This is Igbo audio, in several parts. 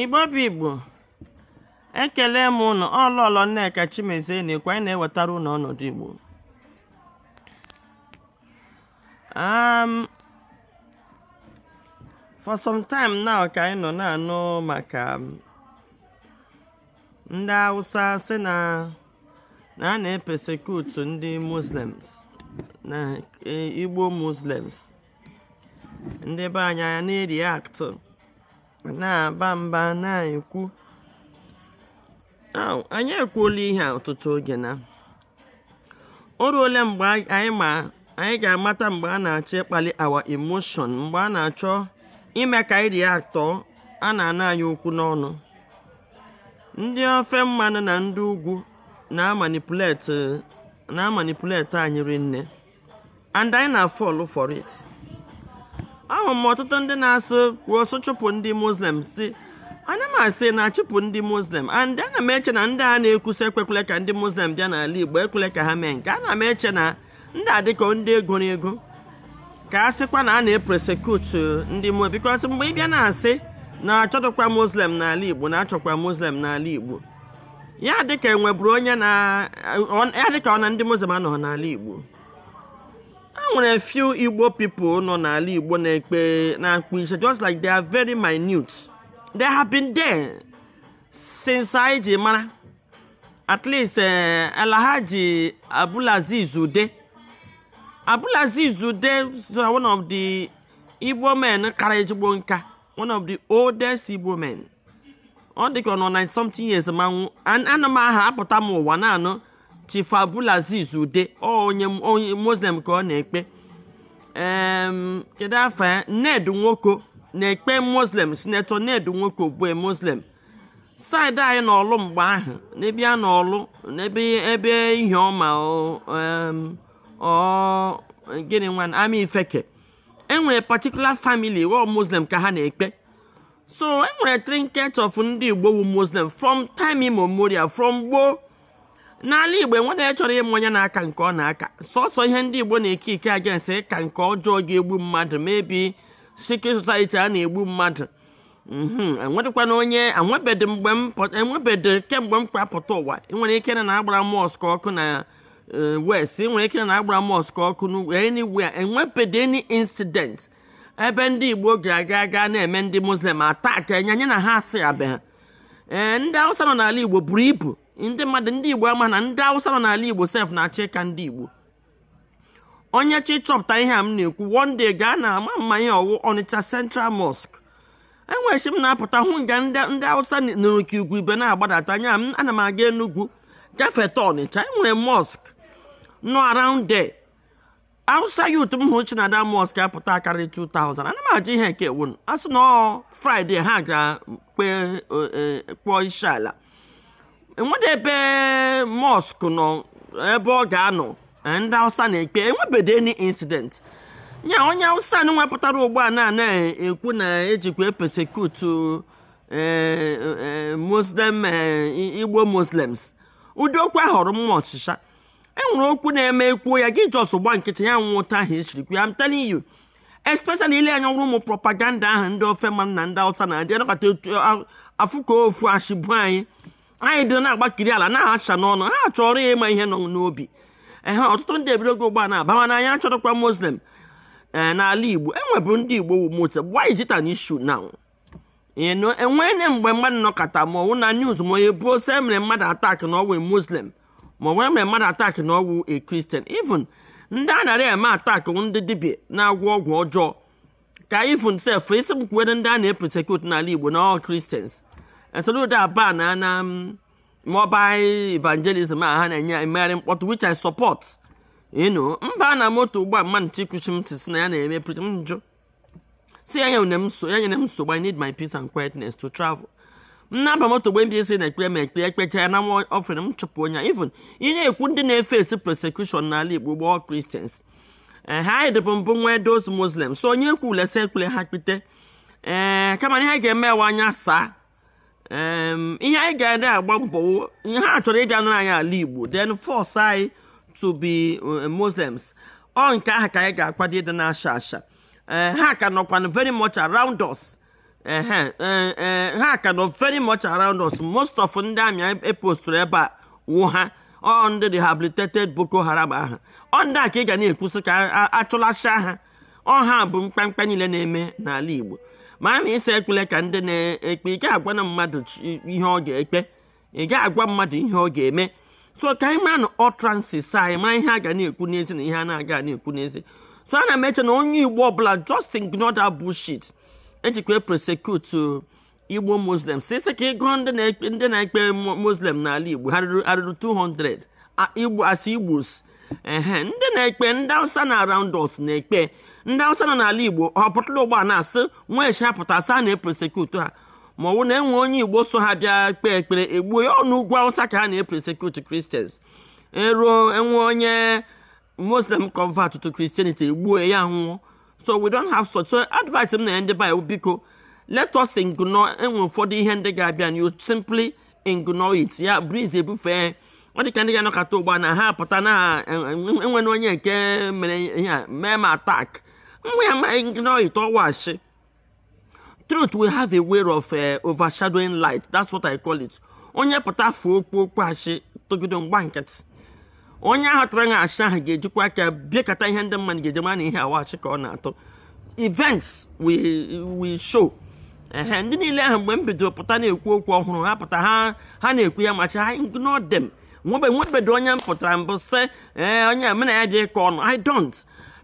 Igbo bụ Igbo ekele m ụnụ ọ Lọlọ Nneka Chimezie na-ekwu anyị na-ewetara ụnụ ọnọdụ Igbo um, for some time now ka anyị nọ na-anụ maka um, ndị Hausa sị na na a na-epersecute ndị muslims na e, igbo muslims ndị be anyị na-ereact na-aba mba na-ekwu anyị ekwuola ihe a ọtụtụ oge na o ruole mgbe anyị ga-amata mgbe a na-achọ ịkpali our emotion mgbe a na-achọ ime ka anyị react a na-ana anyị okwu n'ọnụ ndị ofe mmanụ na ndị ugwu na-amanipulate anyị rinne and anyị na-afall for it ahụ m ọtụtụ ndị na-asụ kwuo sụ chụpụ ndị muslim si ana m asị na a chụpụ ndị muslim and ana m eche na ndị a na-ekwu sị ekwekwele ka ndị muslim bịa n'ala igbo ekwele ka ha mee nke ana m eche na ndị a dịka ndị e goro ego ka a sịkwa na a na-epersecute ndị mu because mgbe ị bịa na-asị na achọdụkwa muslim n'ala igbo na achọkwa muslim n'ala igbo ya dịka enweburu onye na ya dịka ọ na ndị muslim anọghị n'ala igbo e nwere few igbo people nọ n'ala igbo na-ekpe na-akpọ isi just like they are very minute they have been there since anyị ji mara at least eh, Alhaji Abdulaziz Ude Abdulaziz Ude is one of the Igbo men kara ezigbo nka one of the oldest Igbo men ọ dị ka ọ nọ 90 something years ma nwụọ ana m aha apụta m ụwa na-anụ Chief Abdulaziz Ude ọ onye onye Muslim ka ọ na-ekpe Em, kedu afa ya Ned Nwoko na-ekpe Muslim Senator Ned Nwoko bụ a Muslim side anyị n'Ọlụ mgbe ahụ n'ebe a n'Ọlụ n'ebe ebe Ihioma ọ em, ọ gịnị nwan Amaifeke enwere particular family ọ Muslim ka ha na-ekpe so enwere trinket of ndị Igbo wu Muslim from time immemorial from gboo n'ala igbo enwere onye chọrọ ịma onye na-aka nke ọ na-aka sọsọ ihe ndị igbo na-eke ike against ka nke ọjọọ ga-egbu mmadụ maybe secret society a na-egbu mmadụ mhm, enwerekwana onye enwebedị mgbe m enwebedị kemgbe m kpapụta ụwa nwere ike na agbara mosque ọkụ na eh, west nwere ike na agbara mosque ọkụ anywhere enwebedị any incident ebe ndị igbo ga-aga aga na-eme ndị muslim attack enye anyị na ha asị abịa ee ndị awụsa nọ n'ala igbo buru ibu ndị mmadụ ndị igbo ama na ndị awụsa nọ n'ala igbo sef na-achọ ịka ndị igbo onye chọ ịchọpụta ihe a m na-ekwu one day gaa na ama m ma ihe ọ wụ ọnịcha central mosque enwere chi m na-apụta hụ nga ndị awụsa nọrọ ka igurube na-agbadata anya m ana m aga enugwu gafeta ọnịcha enwere mosque nọ around there Hausa youth m hụrụ si na that mosque apụta akarị 2000 ana m ajụ ihe nke a wụ a sị na ọ Friday ha gara kpee e, kpọọ isi ala enwede ebe mosque nọ ebe ọ ga-anọ e, ndị Hausa na-ekpe enwebedo any incident ya onye Hausa ahụ wepụtara ugbu a na-ekwu na ejikwa epersecute e, Muslim Igbo Muslims ụdị okwu ahụ eru m ọshịsha e nwere okwu na-eme ekwuo ya gị just gba nkịtị ya nwụọ otu ahụ esiri kwu ya I'm telling you especially ile anya ọrụ ụmụ propaganda ahụ ndị ofe mmanụ na ndị awụsa na-adị anọkọta etu afụ ka ofu achịbụ anyị anyị dị na-agbakiri ala na-asha n'ọnụ ha chọrọ ịma ihe nọ n'obi ehe ọtụtụ ndị ebidogo ugbu a na-abawa na anyị achọrọkwa muslim ee n'ala igbo enwebu ndị igbo wụ muslim why is it an issue now ịnụ enwere mgbe mmadụ nọkọta ma ọwụ na news ma onye buo sị emere mmadụ attack na ọwụ muslim ma ọwụ emere mmadụ attack na ọwụ a christian even ndị a nara eme attack ndị dibịa na-agwọ ọgwụ ọjọọ ka even sef ị sị m kwuwere ndị a na-epersecute n'ala igbo na ọ christians e soludo abanna mobile evangelism a ha na-eji emegharị mkpọtụ which i support ịnụ m baa na moto ugbu a mmadụ chikwuchi m tisi na ya na-eme preach m njụ sị ya enyele m nso ya enyele m nsogbu I need my peace and quietness to travel m na-aba moto mgbe mbụ sị na-ekpere m ekpere ekpecha ya nawa offering m chụpụ onye even ị na-ekwu ndị na-eface persecution n'ala Igbo ugbu a ọ Christians ee ha anyị dịbu mbụ nwee those Muslims so onye ekwule sị ekwele ha kpite ee kama na ihe ga-eme wụ anya saa ihe anyị ga na-agba mbọ ihe ha chọrọ ịbịa nara anyị ala Igbo then force anyị to be eh, Muslims ọ nke ahụ ka anyị ga-akwado ịdị na-asha asha eh, ha ka nọkwanụ very much around us eh, ha ka nọ very much around us most of ndị army e postụrụ ebe a wụ ha ọ ndị rehabilitated Boko Haram ahụ ọ ndị a ka ị ga na-ekwusị ka achụlasịa ha ọ ha bụ mkpamkpa niile na-eme n'ala Igbo ma a na-asị ekpele ka ndị na-ekpe ị ga-agwanụ mmadụ ihe ọ ga-ekpe ị ga-agwa mmadụ ihe ọ ga-eme so ka anyị mara na utterances anyị ma ihe a ga na-ekwu n'ezi na ihe a na-aga na-ekwu n'ezi so ana m eche na onye Igbo ọbụla just ignore that bullshit ejikwa epersecute igbo muslims ị sị ka ị gụọ ndị na-ekpe muslim n'ala igbo ha ruru 200 igbo as igbos ehe ndị na-ekpe ndị awụsa nọ around us na-ekpe ndị awụsa nọ n'ala igbo ọ pụtara ụgbọ na-asị nwa echi ha pụta sị a na-epersecute ha ma ọ bụ na enwe onye igbo so ha bịa kpee ekpere egbuo ya ọ n'ugwu awụsa ka ha na-epersecute christians eruo enwe onye muslim convert to christianity egbuo ya nwụọ so we don't have such so advice m na-enye ndị be anyị biko let us ignore enwe ụfọdụ ihe ndị ga-abịa you simply ignore it ya breeze ebufee ọ dị ka ndị ga-anọkọta ụgbọ na ha pụta na enwere onye nke mere ihe a mee m attack nwa ya ma ignore it ọ wụ ashị truth will have a way of uh, overshadowing lie that's what i call it onye pụta kwuo okwu okwu ashị tụgide m gba nkịtị onye ahụ tụrụ ashị ahụ ga-ejikwa aka bịakọta ihe ndị mmadụ ga-eji mara na ihe a wụ ashị ka ọ na-atụ events will show ehe ndị niile ahụ mgbe m bidoro pụta na-ekwu okwu ọhụrụ ha pụta ha ha na-ekwu ya machi ha ignore them nwebe nwebedo onye m pụtara mbụ sị ee onye mena ya dị ịkọ ọnụ i don't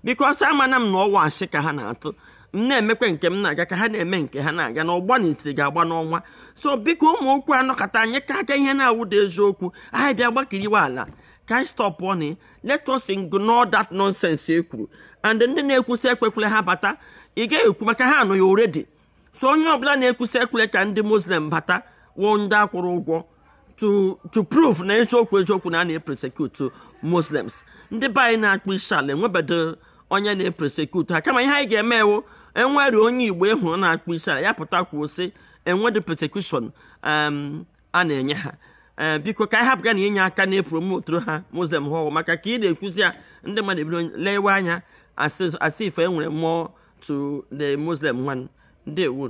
because amana m na ọ wụ ashị ka ha na-atụ m na-emekwa nke m na-aga ka ha na-eme nke ha na-aga na ọgba n'itiri ga-agba n'ọnwa so biko ụmụ okwu anọkata anyị ka aka ihe na-awụda eziokwu anyị bịa gbakiriwe ala ka anyị stop and let us ignore that nonsense e kwuru and ndị na-ekwu sị ekwekwele ha bata ị gaghị ekwu maka ha nọ ya already so onye ọbụla na-ekwu sị ekwele ka ndị muslim bata wụ ndị a kwụrụ ụgwọ to to prove na eziokwu eziokwu na a na-epersecute muslims ndị be anyị na-akpụ isi ala enwebedo onye na-epersecute ha kama ihe anyị ga-eme wụ enwere onye igbo e hụrụ na-akpụ isi ala ya pụta kwuo sị enwedị persecution um, a na-enye ha eh, biko ka anyị hapụga na inye aka na-epromote ha muslim ahụ maka ka ị na-ekwuzi ya ndị mmadụ ebido lewe anya as if enwere more to the muslim one ndewo